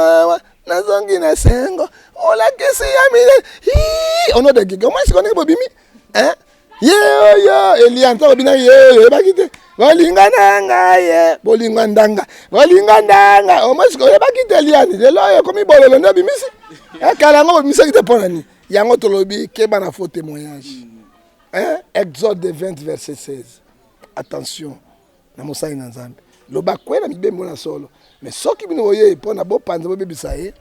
mawa nazongi na sengo olakisi ya mile au nom de qui comment est-ce qu'on est bobimi hein yeoyo elia ntango bina yeoyo oyebaki te bolingo na ngai ye bolingo ndanga bolingo ndanga omosika oyebaki te eliani lelo oyo ekomi bololo nde obimisi ekala yango bobimisaki te mpo na nini yango tolobi keba na faux témoignage exode 20 verset 16 attention na mosali na nzambe loba kwe na mibembo na solo me soki bino boyei mpo na bopanza bobebisa ye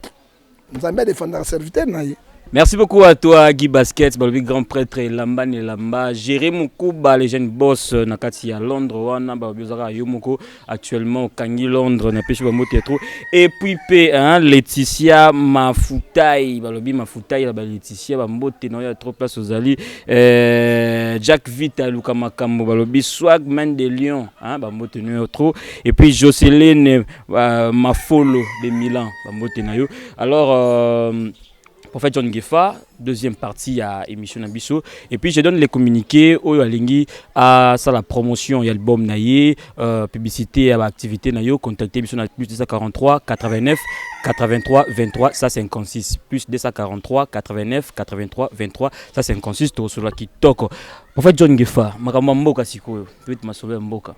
nzambe adefendaka serviteur na ye Merci beaucoup à toi Guy Basket, balobi grand prêtre elamba na elamba, Jerry Mukuba le jeune boss euh, na kati ya Londres wana balobi ozaka yo moko actuellement okangi Londres na pesi ba mbote ya trop et puis pe hein, Laetitia Mafutai balobi Mafutai la ba Laetitia ba mbote na yo ya trop place ozali Euh, Jack Vita Luka Makambo Balobi Swag Man de Lyon hein, Bambote Noyo trop et puis Jocelyne euh, Mafolo de Milan Bambote Nayo alors euh, Prophète John Gefa deuxième partie à émission Nabiso et puis je donne les communiqués Oyo Alingi à ça la promotion y a l'album Naye euh, publicité à activité Nayo contactez émission plus 243 89 83 23 156 plus 243 89 83 23 Ça c'est inconscient to solo kitoko. En fait John Gefa, makambo mboka sikoyo, peut masolo ya mboka.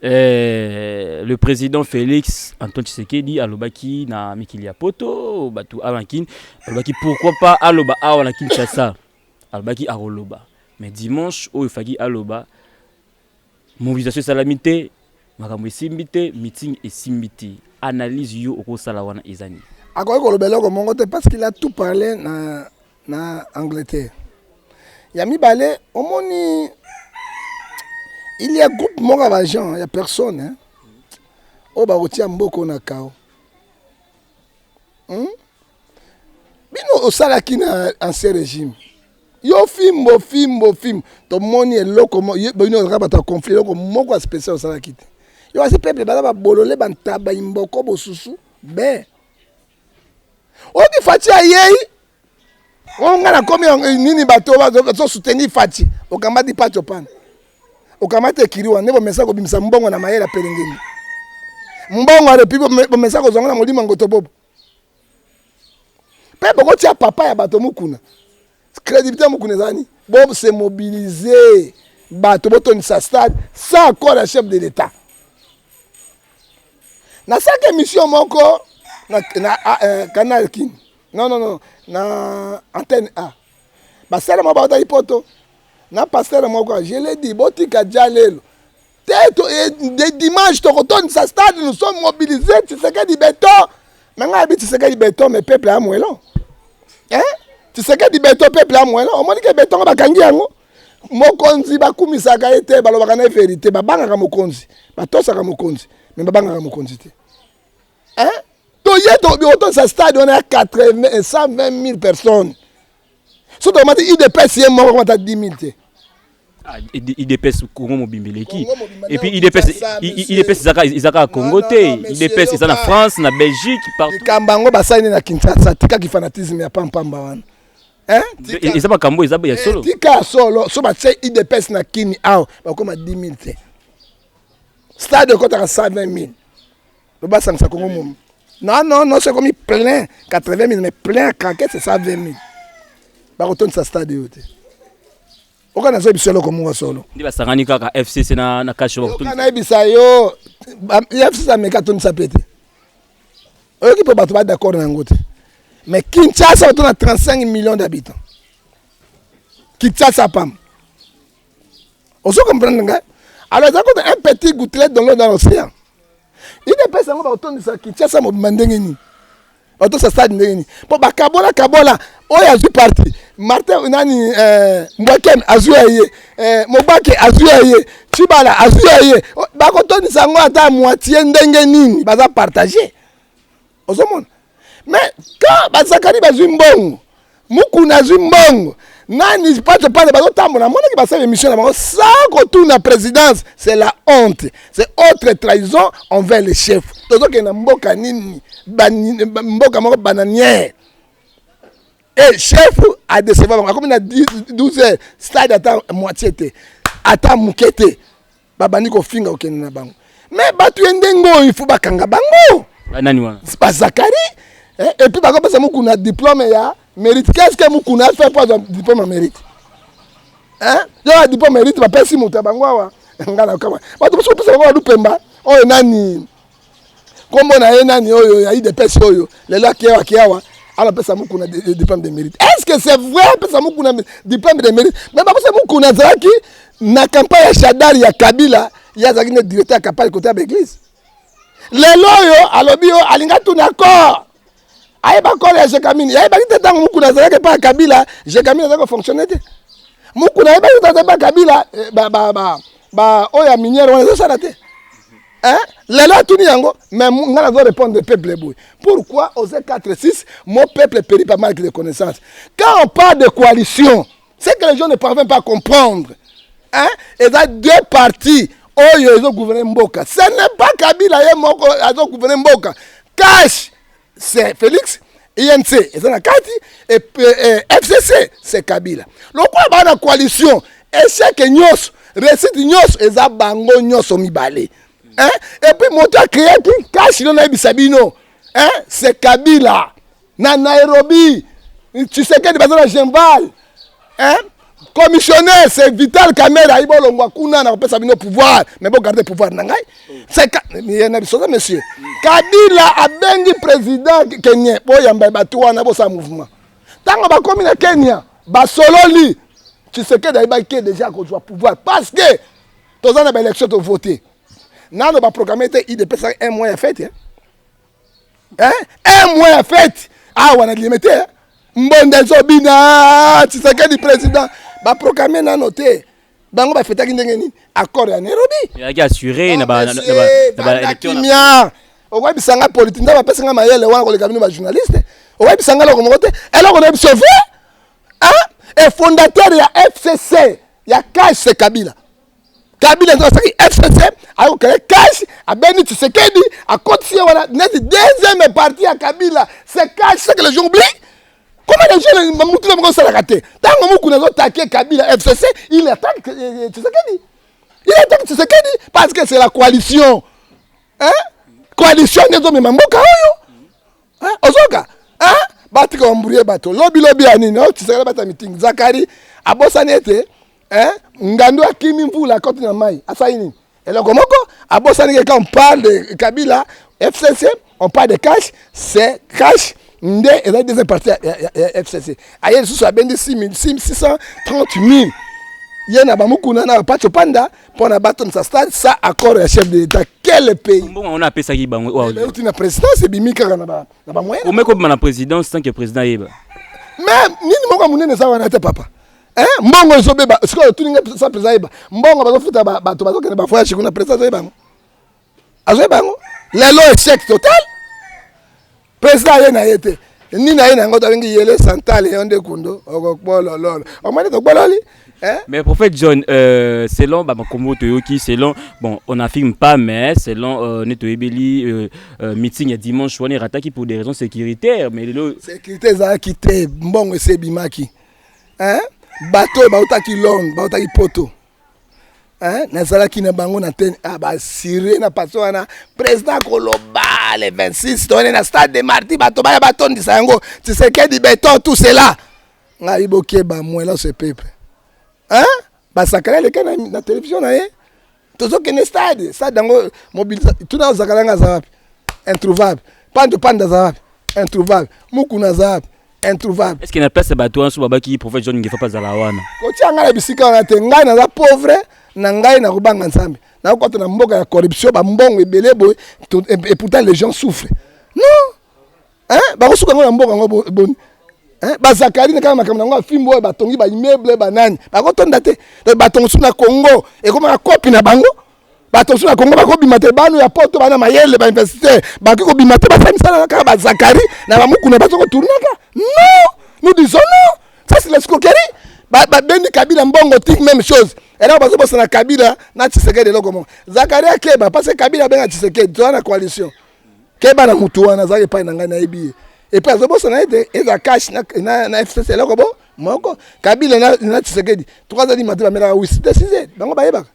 Euh, le président Félix Antoine Tshisekedi alobaki na mikili ya poto bato awa na kin alobaki pourquoi pas aloba awa na kinshasa alobaki akoloba mais dimanche oyo efaki aloba Mobilisation esalami te, makambo esimbi te, meeting esimbi te. Analyse yo okosala wana eza nini? Akoki koloba eloko moko te parce qu'il a tout parle na na Angleterre. Ya mibale omoni il y a groupe moko ya ba gens ya personne hein? oyo bakotia mboko na kao hmm? bino osalaki na ancien régime yo fimbo fimbo fimbo tomoni eloko bino ozalaka bato ya conflit eloko moko ya spécial osalaki te yo asi peuple baza babolole bantaba imboko bosusu be oyoki faci ayei oyo ngai nakomi eh, nini bato bazosoutenir faci okamati paco pana okamati ekiri wana nde bomesa kobimisa mbongo na mayele ya pelengeni mbongo ya repi bomesa kozwanga na molimo ya ngotobobo mpe bokotia papa ya bato mukuna crédibilité ya mukuna eza nini bo se mobiliser bato botondisa stade sans accord ya chef de l'état nasalaki émission moko na, na ah, eh, canal kin non non non na antenne a basala moko bautaki poto na pastere moko je l'ai dit botika ja lelo te dimanche tokotondisa stade nous sommes mobilise tisekedi beton me ngai abi tisekedi beton me peuple ya mwelo tisekedi beton peuple ya mwelo omoni ke beton bakangi yango mokonzi bakumisaka ye te balobaka na ye verité babangaka mokonzi batosaka mokonzi me babangaka mokonzi te toye otondisa stade wana ya 120 000 personnes soki tokamati udps ye moko akomata 10 000 te Ah, ID- idps congo mobimba eleki Congo mobimba, epuis nao idps Kinshasa, i- i- monsieur. idps ezaka ezaka ya congo non, te non, monsieur, idps eza na yoka. france na belgique partout likambo yango basali nde na kinshasa tika kifanatisme ya pampamba wana Hein? Tika. E- eza makambo oyo eza ya solo Eh, tika ya solo so batye udps na kini awa bakoma 10 000 te stade ekotaka 120 000 Loba sangisa Congo mom. Non non non, c'est comme plein 80 000 mais plein craquer c'est ça 20 000. Ba retourne sa stade yote. Oka nazo biso loko mungo solo. Ndi basangani kaka FCC na na cash ba retourne. Kana bisa yo FCC ameka tuni sa pete. Oyoki po bato ba d'accord na yango te. Mais Kinshasa, on a 35 millions d'habitants. Kinshasa, pas. ozo comprendre nga alors eza kota un petit gouttelet dans l'eau dans l'océan idps yango bakotondisa kinshasa mobima ndenge nini batosa stade ndenge nini mpo bakabola kabola oyo azwi parti martin nani eh, mbwakem azwi ya ye eh, mobake azwi ya ye cibala azwi ya ye bakotondisa yango ata moitie ndenge nini baza partage ozomona me ka bazakani bazwi mbongo mukuna azwi mbongo nani pato pale bazotambola amonaki basala émission na bango sans kotuna présidence c'est la honte c'est autre trahison envers le chef tozokende na mboka nini mboka moko bananière e chef adecevoir bango akomi na 12 heures stade ata moitié te ata moke te babandi kofinga kokende na bango me bato ye ndenge oyo ifo bakanga bango banani wana bazakari eh, epuis bakopesa mokuna diplome ya mérite qu'est ce que mokuna afe mpo azwa diplome ya mérite eh, yo ya diplome mérite bapesi moto ya bango awa ngai nakama bato mosusu opesa bango balupemba oyo nani kombo na ye nani oyo ya idps oyo lelo akeya akeyawa ala pesa mukuna diplome de mérite est ce que c'est vrai apesa mukuna diplome de mérite me bakosa mukuna azalaki na campagne ya shadari ya kabila ye azalaki nde directeur ya campagne kote ya baeglise lelo oyo alobi yo alinga tuna corps ayeba nkolo ya jekamini yayebaki te ntango mokuna azalaki epai ya kabila jekamini azalaki kofonctionne te mokuna ayebaki te azalaki epai kabila baoyo ya miniere wana ezosala te Hein? lelo atuni yango mais ngai nazo répondre peuple boye pourquoi oze 4 6 mon peuple péri par manque de connaissance quand on parle de coalition ce que les gens ne parviennent pas à comprendre hein? eza deux parties oyo ezogouverne mboka ce n'est pas kabila ye moko azogouverne mboka cash c'est félix inc eza na kati fcc c'est kabila lokola baa na coalition échec nyonso réussite nyonso eza bango nyonso mibale hein? epuis moto acreaki cash lio nayebisa bino hein? c'est kabila Na Nairobi, Tshisekedi baza na Genval. Hein? Commissionnaire, c'est Vital Kamera, ayiba olongwa kuna na kopesa bino pouvoir, mais bo garder pouvoir na ngai. C'est ka na biso monsieur. Kabila abengi président Kenya, bo yamba bato wana bo sa mouvement. Tango bakomi na Kenya, basololi Tshisekedi ayibaki ke deja akozwa pouvoir parce que toza na baélection tovote nano baprograme te idepesaka un mois ya fete eh? eh un mois ya fete awa na liyeme te mbonda ezobina tshisekedi président baproclame nano te bango bafetaki ndenge nini accord ya nairobi ezalaki assure na baekimia okoyebisa ngai politike nzambe apesi ngai mayele wana koleka bino bajournaliste okoyebisa ngai eloko moko te eloko na biso ve efondateur ya fcc ya case kabila kabila nzela asaki fcc ayokele cash abeni tshisekedi akotisi ye wana neti deuxième partie ya kabila c'est cash c'est que les gens oublient comment les gens mutu na bango osalaka te ntango mokuni azotake kabila fcc il attaque tshisekedi il attaque tshisekedi parce que c'est la coalition hein? coalition nde ezomema mboka oyo ozoka batika bambrouye bato lobilobi ya nini tshisekedi bata mitingi zakari abosani ete eh, ngandu akimi mvula akoti na mai asali nini eloko moko abosani ke quand on parle de kabila fcc on parle de cash c'est cash nde ezali deuxième partie ya, ya, ya, ya fcc aye lisusu abendi 630 000 ye na bamukuna na bapacho panda mpo na batonisa stade sa accord ya chef de l'état quel pays mbongo yango napesaki bango oyo Eh, euti na présidence ebimi kaka na ba- na bamoyen omeki kobima na présidence tant que président ayeba mais nini moko ya monene eza wana te papa Eh, mbongo ezobeba sikoyo otuni ngai sa mpenza ayeba mbongo bazofuta bato bazokende bavoyage kuna mpenza azoyeba yango azoyeba yango lelo echec total mpenza aye na ye te nini na ye na yango tobengi yele santale yo nde kundo okokbolololo omoni tokbololi Hein? Mais prophète John, euh, selon bah, Makombo Toyoki, selon, bon, on n'affirme pas, mais selon euh, Neto Ebeli, euh, euh, meeting à dimanche, on est rataki pour des raisons sécuritaires. Mais le... Sécurité, ça a quitté, bon, c'est Bimaki. eh, bato oyo bautaki londre bautaki poto eh, nazalaki na bango na te ah, basirie na paso wana président koloba le 26 toyene na stade de marti bato baya batondisa yango tisekedi beton tout cela ngai bokeba mwela ce peuple eh? basakana eleka na, na televizio na ye tozokende stade stade yango mobilisa tuna ozakalanga aza wapi introuvable pando panda aza wapi introuvable mukuna aza wapi introuvable eske na place ya bato wana so babaki prophète john ngefa mpe azala wana kotia ngai na bisika wana te ngai naza pauvre na ngai nakobanga nzambe nakokota na mboka ya corruption bambongo ebele boye et pourtant les gens souffre non eh bakosuka ngo na mboka ngo boni eh bazakali na kaka makambo yango afimbo oyo batongi ba immeuble banani bakotonda te donc bato mosusu na Congo ekomaka kopi na bango bato mosusu na Congo bakobima te bano ya poto bana mayele ba investisseur bakoki kobima te basali misala kaka bazakali na bamukuna bazo koturnaka non nous disons non ça c'est l'escroquerie babendi kabila mbongo ti même chose eloko bazobosana kabila na tshisekedi eloko moko zakaria keba parce que kabila abenga tshisekedi toza na coalition keba na mutu wana azalaki epai na ngai nayebi ye epai azobosana ete eza cash na, na, na fcc eloko bo moko kabila na, na tshisekedi tokazali mate bamelaka wisi te size bango bayebaka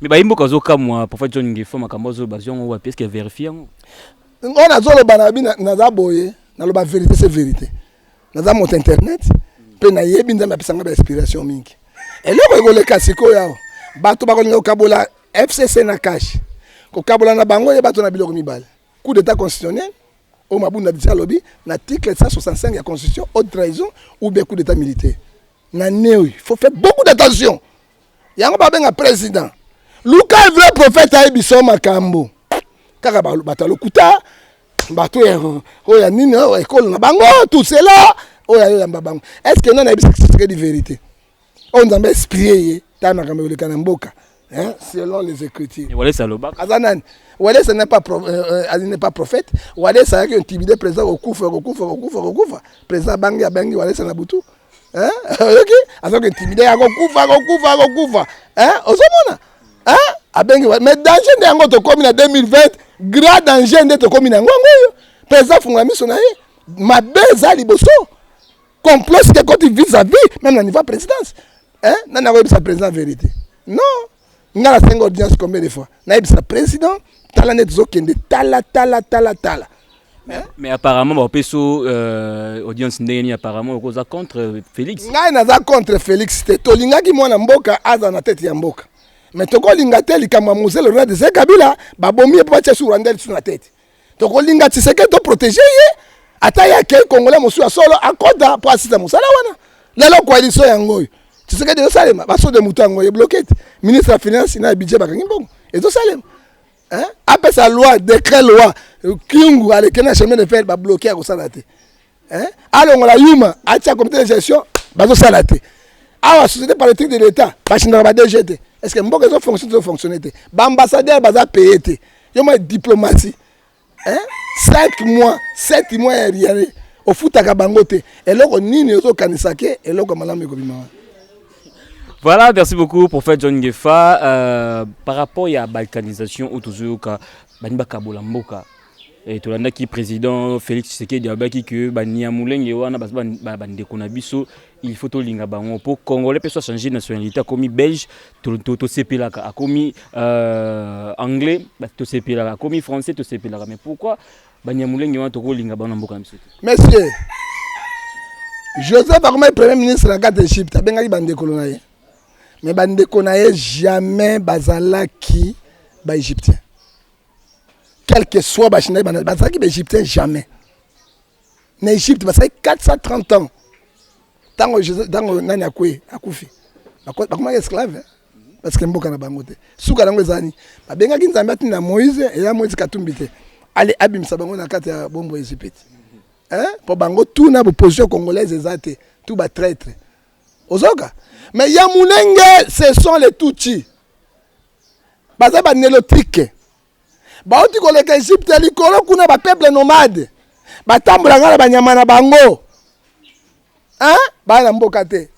me bayi mboka azokamwa profa john ngefo makambo azolo bazwi yango wapi eske verifie yango oyo nazoloba na bino naza boye naloba verite se verite naza moto internet mpe nayebi nzambe apesa ngai bainspiration mingi eloko ekoleka sikoyo awa bato bakolinga kokabola fcc na cash kokabola na bango ye bato na biloko mibale coup d'état constitutionnel oyo mabunda disa alobi na article 165 ya constitution haute trahison ou bien coup d'état militaire na neoyo faut faire beaucoup d'attention yango babenga président luka vrai prophète ayebi so makambo kaka bato ya lokuta bato oyo ya nini oyo ekolo na bango tout cela oyo ayo yamba bango est ce que nani ayebisa kisekedi verité oyo nzambe esprie ye ta makambo ekoleka na mboka hein, selon les écritures. Aza nani Walesa n'est pas, pro, euh, euh n'est pas prophète. Walesa a intimidé président Okufa, Okufa, Okufa, Okufa. Président Bangi a Bangi Walesa Nabutu. oyoki aza kointimide ya kokufa kokufa kokufa ozomona abengi mais danger nde yango tokómi na 2020 grand danger nde tokómi na yango yango oyo mpe eza fungola miso na ye mabe eza liboso complot sike ekoti vis à vis meme na niveau ya présidence nani akoyebisa président vérité non nga na senga audience combien de fois na yebisa président tala nde tozo kende tala tala tala tala hein? mais apparemment ba peso euh, audience ndenge ni apparemment okoza contre Felix ngai naza contre Felix te tolingaki mwana mboka aza na tete ya mboka mais tokolinga te likambo ya mosele ronald zekabila babomi ye mpo batya su rwanda lisu na tete tokolinga tshisekedi to protege ye ata ye akei congolais mosusu ya solo akota mpo asisa mosala wana lelo koalition yango oyo tshisekedi ezosalema basode moto yango ebloke te ministre ya finance na ya budget bakangi mbongo ezosalema apesa loi decret loi kiungu aleke na chemin de fer babloke akosala te hein alongola yuma atia comité de gestion bazosala te awa société politique de l'état bachindaka ba dg te est ce que mboka ezo fonctionne ezo fonctionne te baambassadeur baza paye te yo mwa diplomatie hein 5 mois 7 mois ya riare ofutaka bango te eloko nini ozokanisa ke eloko ya malamu ekobima wana Voilà, merci beaucoup, prophète John Gefa. Euh, par rapport à la balkanisation, où toujours, Baniba Kabola Mboka, Eh, tolandaki président Félix Tshisekedi abaki que ba Niamulenge wana ba ba, ba ndeko na biso il faut tolinga bango po congolais pe so changer nationalité akomi belge to to, to sepelaka akomi euh, anglais to sepelaka akomi français to sepelaka mais pourquoi ba Niamulenge wana tokolinga bango na mboka na biso monsieur Joseph akomaki premier ministre na kati Egypte abengaki bandekolo na ye mais bandeko na ye jamais bazalaki ba Egyptiens quel que soit bachina bazalaki baegyptien jamais na egypte basalaki 430 ans ntango ntango nani akwe akufi bakomaki esclave hein? parce que mboka na bango te suka nango eza nini babengaki nzambe atinda moïse eya moïse katumbi te ale abimisa bango na kati ya bombo ya ezipiti mpo bango tu na boposition congolaise eza te tu batraitre ozoka mais ya mulenge ce sont les tutsi baza ba nelotique bauti koleka egypte likolo kuna ba peuple nomade batambola nga na banyama na bango hein? baa na mboka te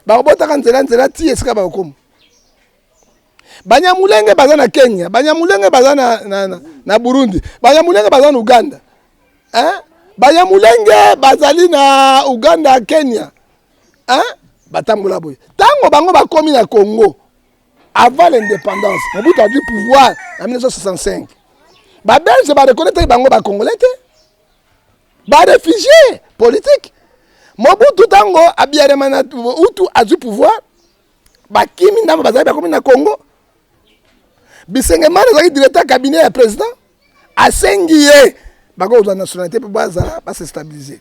bakobotaka nzela nzela ti esika bakokoma banyamulenge baza na kenya banyamulenge baza na, na, na, na burundi banyamulenge baza na uganda hein? banyamulenge bazali na uganda kenya hein? batambola boye ntango bango bakomi na congo Avant l'indépendance, Mobutu a du pouvoir en 1965. Ba Belges ba reconnaître bango ba Congolais te. Ba réfugiés politiques. Mobutu tango abiyarema na Hutu a du pouvoir. Ba kimi ndambo bazali bakomi na Congo. Bisengemana azali directeur cabinet ya président. Asengi ye bakozwa nationalité mpo bazala ba se stabiliser.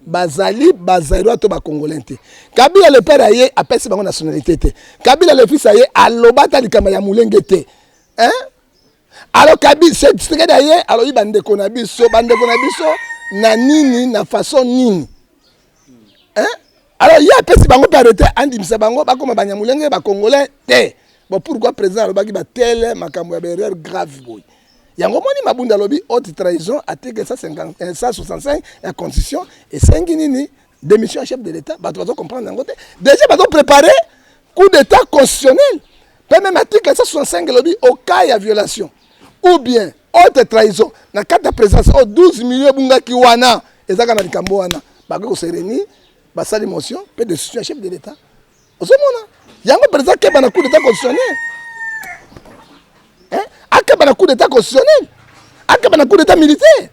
bazali bazairwa to bacongolais te kabila le père aye apesi bango nationalité te kabila le fils aye aloba ata likambo ya molenge te hein? alors kabila tshisekedi aye alobi bandeko na biso bandeko na biso na nini na façon nini hein? alors ye apesi bango mpe arrete andimisa bango bakoma banyamulenge bacongolais te bon pourquoi président alobaki batele makambo ya baerreur grave boye yango moni mabunda alobi haute trahison article 165 eh, ya constitution esengi nini démission ya chef de l'état bato bazo comprendre yango te déjà bazo préparer coup d'état constitutionnel mpe meme article 165 elobi au cas ya violation ou bien haute trahison na kati ya présence oyo 12 million ebungaki wana ezaka na likambo wana bakoki kosereni basali motion mpe décision ya chef de l'état ozomona yango president akeba na coup d'état constitutionnel hein? akeba na coup d'état constitutionnel akeba na coup d'état militaire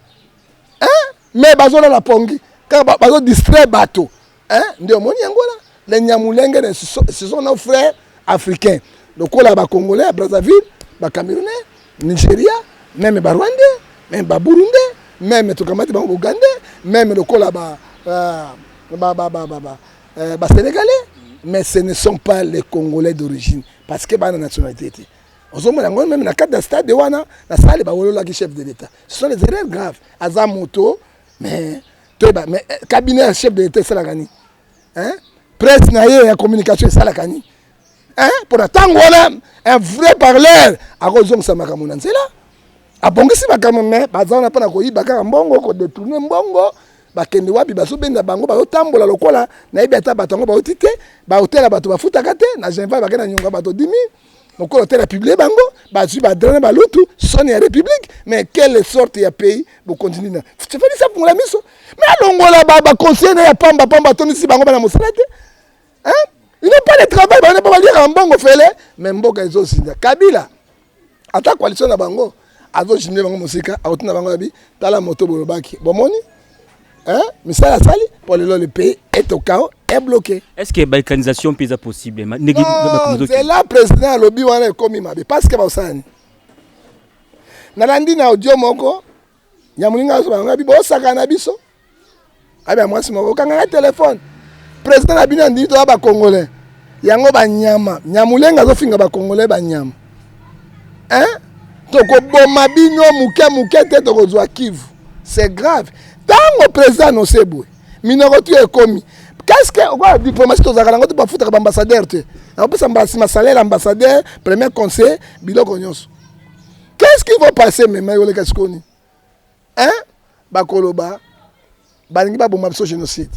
hein? mais bazolala pongi kaka bazodistraire bato hein? nde omoni yango la le nyamulenge ne ce sont nos frères africains lokola bacongolais ya brazzaville bacamerounais nigeria meme barwandais meme baburundais meme tokamati bango bougandais meme lokola ba, uh, ba, ba, ba, ba, ba euh, ba sénégalais mais ce ne sont pas les congolais d'origine parce que bana nationalité te ozomona yango meme na cadre ya stade wana na sale bawololaki chef de l'état ce sont les erreurs graves aza moto mais toyeba mais eh, cabinet ya chef de l'état esalaka nini presse na ye ya communication esalaka nini eh, mpo na ntango wana un vrai parleur akozongisa makambo na nzela abongisi makambo me baza wana mpo na koyiba kaka mbongo kodetourne mbongo bakende wapi bazobenda bango bazotambola lokola nayebi ata bato yango bauti te baotela bato bafutaka te na genval bakenda na nyonga bato dimi lokola otela publie bango bazwi badra na balutu soni ya république mais quelle sorte ya pays bokontinue na fefalisi afungola miso me alongola baconseiller na ya pamba pamba atondisi bango bana mosala te hein ils n'ont pas de travail bana ba liaka mbongo fele mais mboka ezo zinda kabila ata coalition na bango azo jimne bango mosika akotina bango yabi tala moto bolobaki bomoni hein misala sali pour lelo le pays est au chaos est bloqué est ce que balkanisation mpe eza possible ndenge nzela président alobi wana ekomi mabe parce que baosalani nalandi na audio moko ya moninga azobango yabi bosakana biso abia mwasi moko okanga ngai telefone president na bino andimi toza bacongolais yango banyama nyamulenga azofinga bacongolais banyama hein? tokoboma bino moke moke te tokozwa kivu c'est grave ntango president nose boye minoko tu ekomi qu'est-ce que okola diplomatie tozalaka nango te bafutaka baambassadeur te nakopesa mbasi masalaire ambassadeur premier conseil biloko nyonso qu'est-ce qui va passer mema ekoleka sikoni Hein? Bakoloba balingi baboma biso génocide.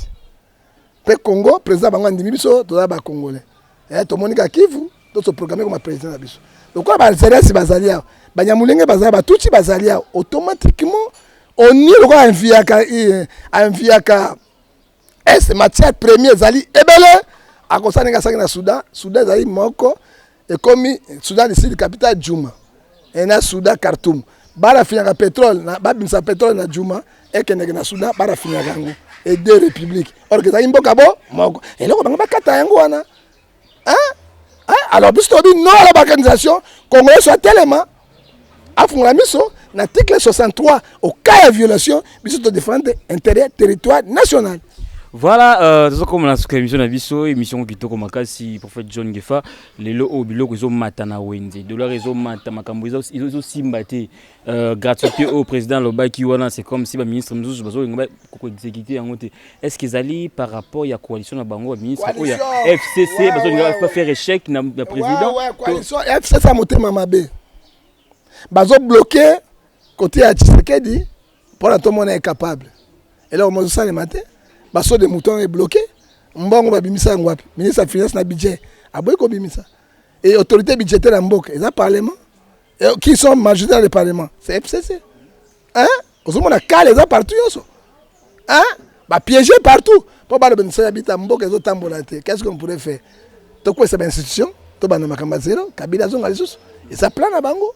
Pe Congo président bango andimi biso toza ba congolais. Eh tomoni ka Kivu to se programmer comme président na biso. Lokola ba Algériens bazali awa, ba Nyamulenge bazali, ba Tutsi bazali awa, automatiquement on est lokola enviaka enviaka est matière premier ezali ebele akosa ndenge asalaki na soudan soudan ezali moko ekomi soudan du sud capital juma e na soudan khartoum barafinaka petrole babimisa petrole na juma ekendeke na soudan barafinaka yango e deux république orke ezalaki mboka bo moko eloko bango bakata yango wana hein hein alors biso tobi non à la balkanisation congolais soit telema afungola miso na article 63 au cas ya violation biso to défendre intérêt territoire national Voilà, euh, tozo koma na suka émission na biso, émission ko kitoko makasi prophète John Gefa, lelo o biloko ezo mata na wenze, dollar ezo mata makambo ezo ezo simba te. Euh, gratuité au président alobaki wana c'est comme si ba ministre mosusu bazolinga koexécute yango te est ce que ezali par rapport ya coalition na bango baministre oyo ya fcc bazolinga bafaire échec na président fcc ya motema mabe bazobloke kote ya tshisekedi mpona tomona ye capable eloko mozosalema te baso de mouton ebloke mbongo babimisa yango wapi ministre ya finance na budget aboyi kobimisa e autorité budgétaire ya mboka eza parlement Eh, qui sont majorité dans le parlement c'est fcc hein ozomona kale eza partout nyonso hein bapiége partout mpo baloba misala ya bita mboka ezotambola te qu'est ce qu'on pourrait faire tokwesa bainstitution tobanda makambo ya zero kabila azonga lisusu eza plan na bango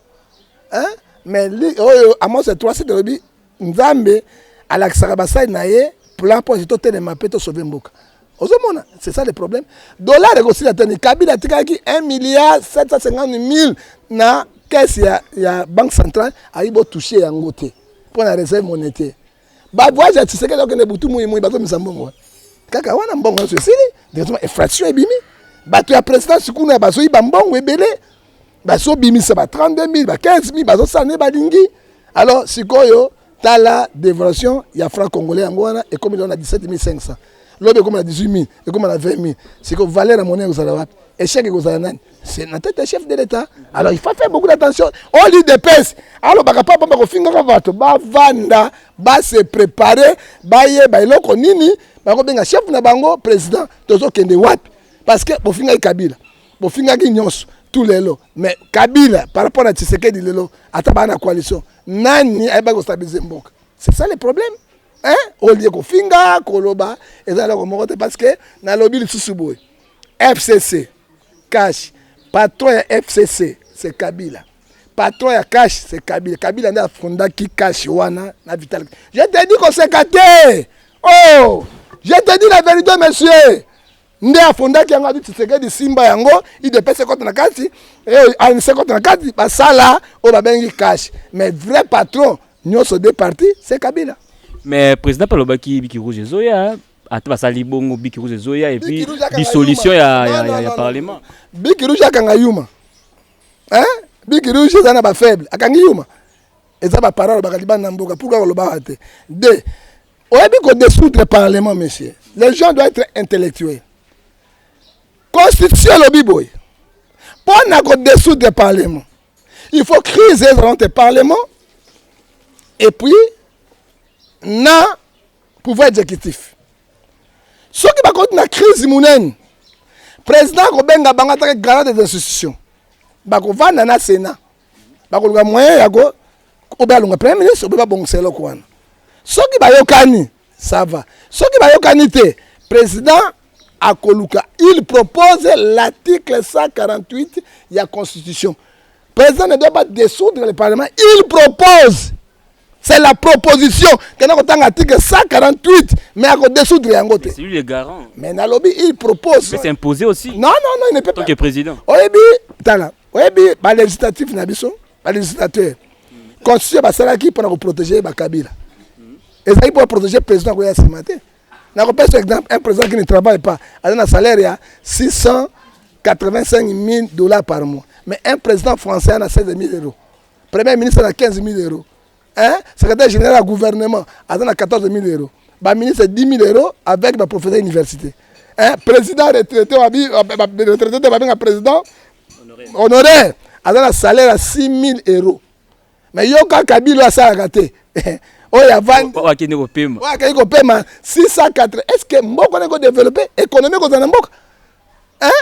hein mais oyo amos ya 3 site alobi Nzambe alakisaka basali na ye plan mpo ete totelema mpe tosove mboka. ozomona c'est ça le problème dollar ekosila tani kabila atikaki 1 milliard 750 mille na caisse ya, ya banque centrale ayi botouche yango te mpo na réserve monétaire bavoyage ya tisekeli okende butu moi moi bazomisa mbongo wana kaka wana mbongo nyonso esili directement infraction ebimi bato ya présidence kuna bazoyiba mbongo ebele bazobimisa ba 32000 ba 15000 bazosala nde balingi alors sikoyo tala devaluation ya franc congolais yango wana ekomi lelo na 17500 lobi ekoma na 18000 ekoma na 20000 sikoyo valeur ya monnaie ekozala wapi échec ekozala nani c'est na tête ya chef de l'état alors il faut faire beaucoup d'attention au lieu de pèse alobaka pa bomba kofingaka bato bavanda base prépare bayeba eloko nini bakobenga chef na bango président tozokende wapi parce que bofingaki kabila bofingaki nyonso tu lelo mais kabila par rapport na tshisekedi lelo ata baa na coalition nani ayebaki kostabilize mboka c'est ça le problème hein? olie kofinga koloba eza eloko moko te parce que nalobi lisusu boye fcc cash patron ya fcc c'est kabila patron ya cash c'est kabila kabila nde afondaki cash wana na vital je te dis koseka te oh je te dis la vérité monsieur nde afondaki yango abi tshisekedi simba yango idps ekota na kati eh, anc ekota na kati basala oyo babengi cash mais vrai patron nyonso de parti se kabila mais président mpe alobaki biki rouge ezoya ata basali bongo biki rouge ezoya epuis dissolution ya, ya, ya, ya parlement biki rouge akanga yuma hein? biki rouge eza na bafaible akangi yuma eza baparole alobaka libanda na mboka pourkui kolobaka te de oyebi ko desoudre parlement monsieur les gens doit être intellectuel constitution elobi boye mpo na ko desoudre parlement il faut crise ezala entre parlement et puis na pouvoir exécutif soki bakoti na crise monene président akobenga bango ataka garant des institutions bakovanda na sénat bakoluka moyen ya ko obe alonga premier ministre obe babongisa eloko wana soki bayokani ça va soki bayokani te président akoluka il propose l'article 148 ya constitution président ne doit pas dissoudre le parlement il propose c'est la proposition kenda kotanga article 148 mais ako dissoudre yango te lui le garant mais nalobi il propose c'est imposé aussi non non non il ne peut pas que président oyebi tala oyebi ba législatif na biso ba législateur constitution basalaki mpona koprotege bakabila ezalaki mpo baprotege président koya nsima te nakopesa exemple un président qui ne travaille pas aza na salaire ya 685 000 dollars par mois mais un président français ana 16 000 euros premier ministre ana 15 000 euros Hein? Secrétaire général ya gouvernement aza na 14 000 euros. Ba ministre 10 000 euros avec ba professeur université. Hein? Président retraité wa bi retraité de babenga président honoraire aza na salaire ya 6 000 euros. Mais yo kaka Kabila asalaka te. oyo avandi oyo akende kopema oyo akei kopema 604 est ce que mboka nako développe économie ekozala na mboka hein?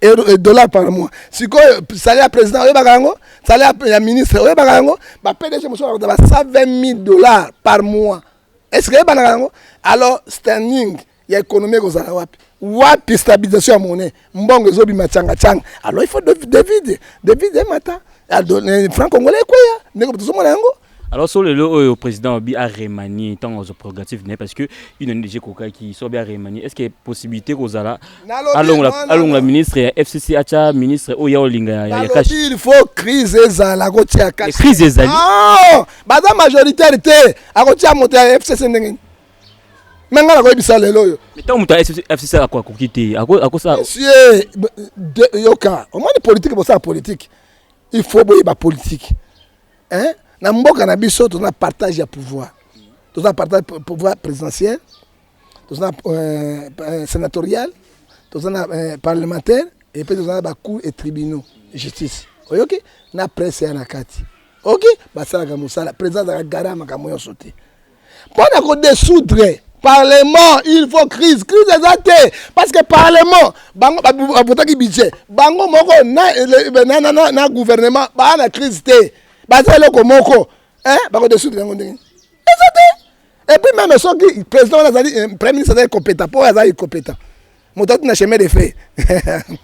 et dollars par mois sikoyo salaire ya président oyebaka yango salaire ya ministre oyebaka yango ba pdg mosusu bakuta ba 120 000 dollars par mois est ce que eyebanaka yango alors standing ya économie ekozala wapi wapi stabilisation ya monnaie mbongo ezobima changa changa alors il faut devide devide emata franc congolais ekweya ndeko tozomona yango Alors sur le lot oyo président Obi a remanié tant aux prérogatives n'est parce que une année déjà coca qui soit bien remanié est-ce qu'il y a possibilité qu'on zala allons la allons la ministre ya FCC acha ministre oya olinga ya cash il faut crise ezala ko tia cash crise ezali ah baza majoritaire te akotia moto ya FCC ndenge me ngai nakoyebisa lelo oyo ntango moto fcc akoki te akosala monsieur yoka omoni politike bosala politike il faut boyeba politike hein na mboka na biso toza na partage ya pouvoir toza na partage pouvoir présidentiel toza na euh, euh, sénatorial toza na euh, parlementaire et puis toza na ba cour et tribunaux justice oyoki na presse ya na kati oki basalaka mosala président azalaka gara makambo nyonso te mpo na ko desoudre parlement il faut crise crise eza te parce que parlement bango bavotaki budget bango moko na, na, na, na, na gouvernement baa na crise te baza eloko moko eh, bakodesoudre yango ndenge eza te epuis meme soki président wana azali eh, premier ministre azali kopeta mpo azali kopeta moto ati na chemin de fer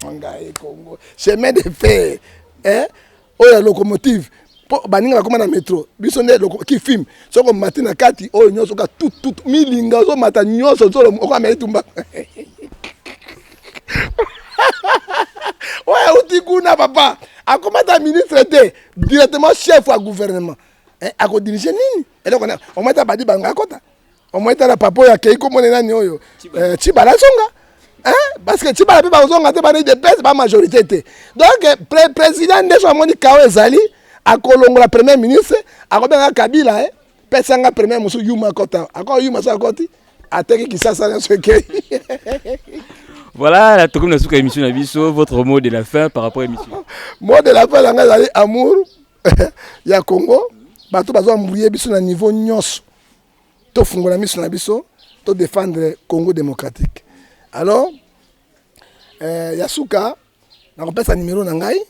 ngai kongo chemin de fer eh? oyo ya locomotive mpo baninga bakoma na metro biso nde kifilme soki omati na kati oyo nyonso oka tutut milinga ozomata nyonso nsolo okoma etumba oyo auti kuna papa akomata ministre te directement chef ya gouvernement eh, akodirige nini eloko omata badi bango akota omoi tala papa oyo akei komone nani oyo cibala eh, azonga parce que cibala mpe bakozonga te bana udps ba majorité te donc président nde so amoni kao ezali akolongola premier ministre akobenga kabila eh, pesa nga premier mosusu yuma akota ako yuma so akoti ateki kisasa nyonso ekei Voilà, la tokomi na suka émission na biso, votre mot de la fin par rapport à l'émission. mot de la fin na ngai ezali amour ya Congo. Bato bazo embrouiller biso na niveau nyonso. to fungola miso na biso to défendre Congo démocratique alors euh, ya suka nakopesa numéro na ngai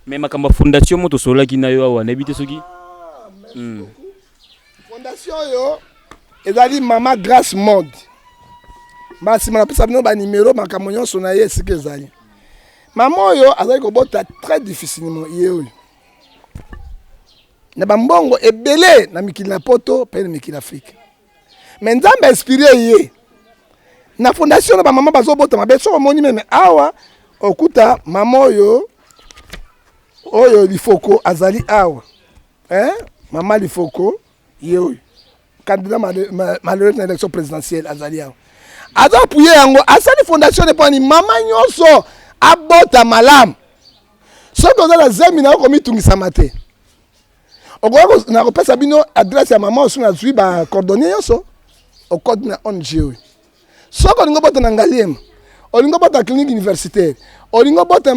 mais makambo fondation moto osololaki na yo awa nayebi te soki ah, hmm. fondation oyo ezali mama grace mode mbala nsima napesa bino banimero makambo nyonso na ye esika ezali mama oyo azali kobota très difficilement ye oyo na bambongo ebele na mikili na poto mpe na mikili afrika me nzambe inspire ye na fondation na bamama bazobota mabe soki omoni meme awa okuta mama oyo oyo lifoko azali awa eh? mama lifoko ye oyo candidat malheureux na élection présidentielle azali awa aza apuye yango asali fondation epoani mama nyonso abota malamu soki oza na zemi nayo komitungisama te okoki nakopesa bino adresse ya mama osu nazwi bacordonnier nyonso okoti na ong oyo soki olingi obota na ngaliema olingi obota clinique universitaire olingi obota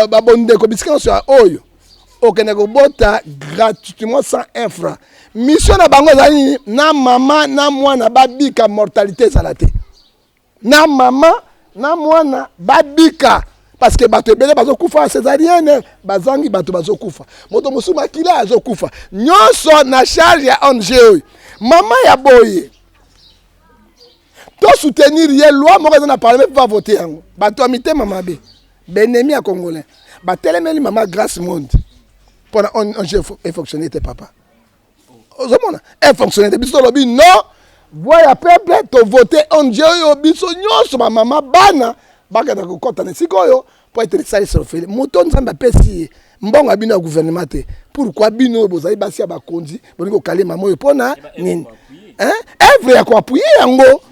babondeko bisika nyonso ya oyo okende kobota gratuitement sans infra mission na bango ezali nini na mama na mwana babika mortalité ezala te na mama na mwana babika parce que bato ebele bazokufa cesarienne bazangi bato bazokufa moto mosusu makila azokufa nyonso na charge ya ong oyo mama ya boye tosoutenir ye loi moko eza na parlement mpo bavote yango bato ya mitema mabe benemi ya congolais batelemeli mama grace monde mpona ong efonctionne te papa ozomona e fonctionne te biso tolobi non voix ya peuple tovote ong oyo biso nyonso bamama bana bakenda kokɔta na esika oyo mpo ete lisalisi ofele moto nzambe apesi ye mbongo ya bino ya guvernema te pourkui bino oyo bozali basi ya bakonzi bolingi kokale mama oyo mpo na nini evre ya koapuye yango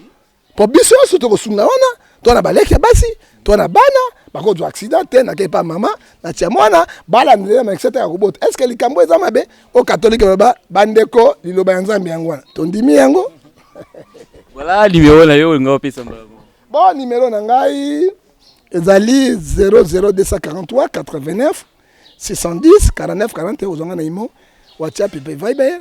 po biso nyonso tokosunga wana to na baleki ya basi to na bana bakozwa accident te nakei pa mama natia mwana balandela na exete ya kobota eske likambo eza mabe o katolike baloba bandeko liloba ya nzambe yango wana tondimi yango voilà nimero na yo olinga opesa mbala bon nimero na ngai ezali 00243 89 610 49 41 ozwanga na imo whatsapp mpe viber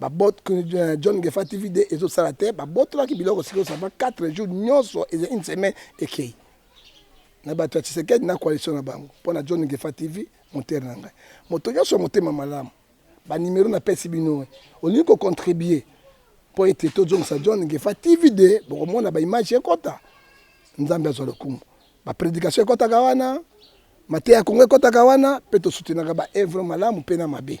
ba bot euh, John Gefa TV de ezo sala te ba botolaki biloko sikoyo ça va 4 jours nyoso et une semaine et kei na bato ya Tshisekedi na coalition na bango mpo na John Gefa TV moteur na ngai moto nyoso motema malamu ba numero na pesi bino olingi ko contribuer mpo ete tozongisa John Gefa TV de bokomona ba image ekota nzambe azwa lokumu ba predication ekotaka wana mateya ya Kongo ekotaka wana mpe tosutenaka ba evre malamu mpe na mabe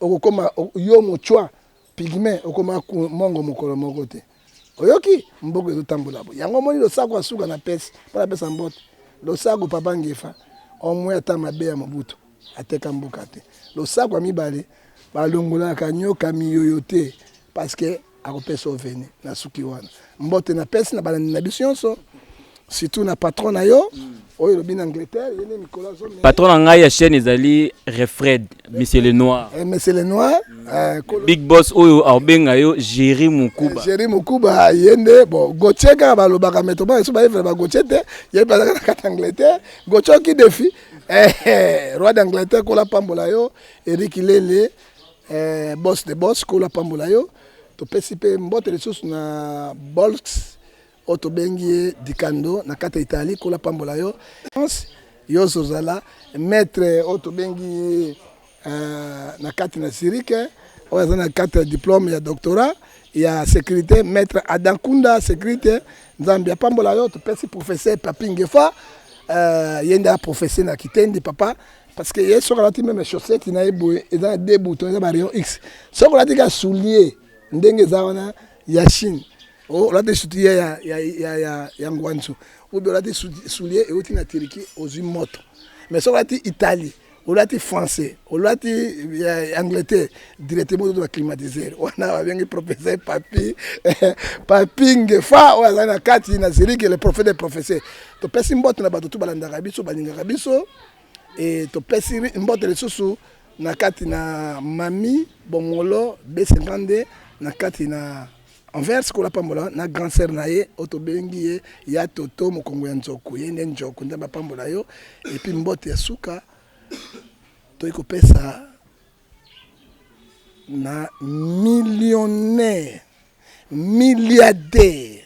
okokoma yo mochwa pigme okoma mongo mokolo moko te oyoki mboka ezotambola bo yango omoni losako asuka na pesi mpo napesa mbote losako papa ngefa omwe ata mabe ya mobutu ateka mboka te losako ya mibale balongolaka nyoka miyoyo te parce que akopesa oveni na suki wana mbote na pesi na balandi na biso nyonso surtout na patron na yo oyo elobi na angleterre ye nde mikolo azomela patron na ngai ya chaîne ezali refred monsieur le noir Eh, monsieur le noir eh, kolo- big boss oyo aobenga yo géri mokuba Jerry Mukuba ye nde bon Gauthier kaka balobaka mais tobana biso baevre ba Gauthier te ye bazalaka na kati ya Angleterre Gauthier oki defi eh, eh, roi d'Angleterre kola pambola yo Eric Lele Eh, boss de boss kula pambola yo topesi mpe mbote lisusu na bolx oyo tobengi ye dikando na kati ya italie kula pambola yo yo ozozala maître oyo tobengi ye uh, na kati na sirike oyo aza na kati ya diplome ya doctorat ya sécurité maître adam kunda sécurité nzambe apambola yo topesi professeur papingefa uh, ye nde aprofese na kitendi papa parce que ye soki alati meme chaussette na ye boye eza na deux boutons eza ba rayon x soki olati ka soulier ndenge eza wana ya chine oh, olati soulier ya, ya, ya, ya, ya ngwanzu obe olati soulier euti na turquie ozwi moto mais soki olati italie olati français olati eh, angleterre directement ozoto baclimatiseur wana babengi professeur papi papi ngefa oyo azali na kati na zerike le prophète de professeur topesi mbote na bato tu balandaka biso balingaka biso Et topesi mbote lisusu na kati na Mami Bongolo B52 na kati na Anvers kola pambola na grand sœur na ye oyo tobengi ye ya Toto mokongo ya nzoku ye nde njoku nde bapambola yo et puis mbote ya suka toyi kopesa na millionnaire milliardaire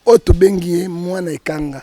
oyo tobengi ye mwana ekanga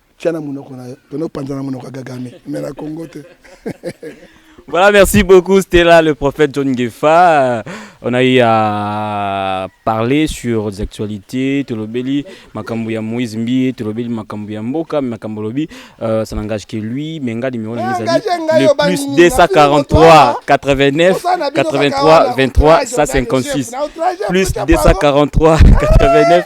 Tia na munoko na yo. Tono panza na munoko gagame. Mais na Congo te. Voilà, merci beaucoup. C'était là le prophète John Gefa. Euh, on a eu à parler sur les actualités, Tolobeli, Makambu ya Moïse Mbi, Tolobeli, Makambu ya Mboka, Makambu Lobi, euh, ça n'engage que lui, mais Nga numéro de le plus 243 89 83 23 156, plus 243 89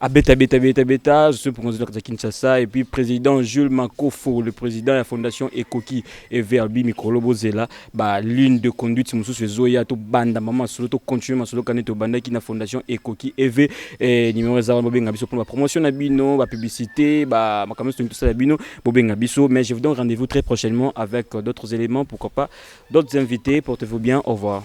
Abeta beta beta beta, je suis président de Kinshasa et puis président Jules Makofo, le président de la fondation Ekoki et Verbi Mikolo Bozela, ba ligne de conduite mususu ezoya to banda mama solo to continuer masolo kané to banda ki na fondation Ekoki EV et numéro za ba benga biso pour la promotion na bino, ba publicité, ba makambo tout ça la bino, bo benga biso mais je vous donne rendez-vous très prochainement avec d'autres éléments pourquoi pas d'autres invités, portez-vous bien, au revoir.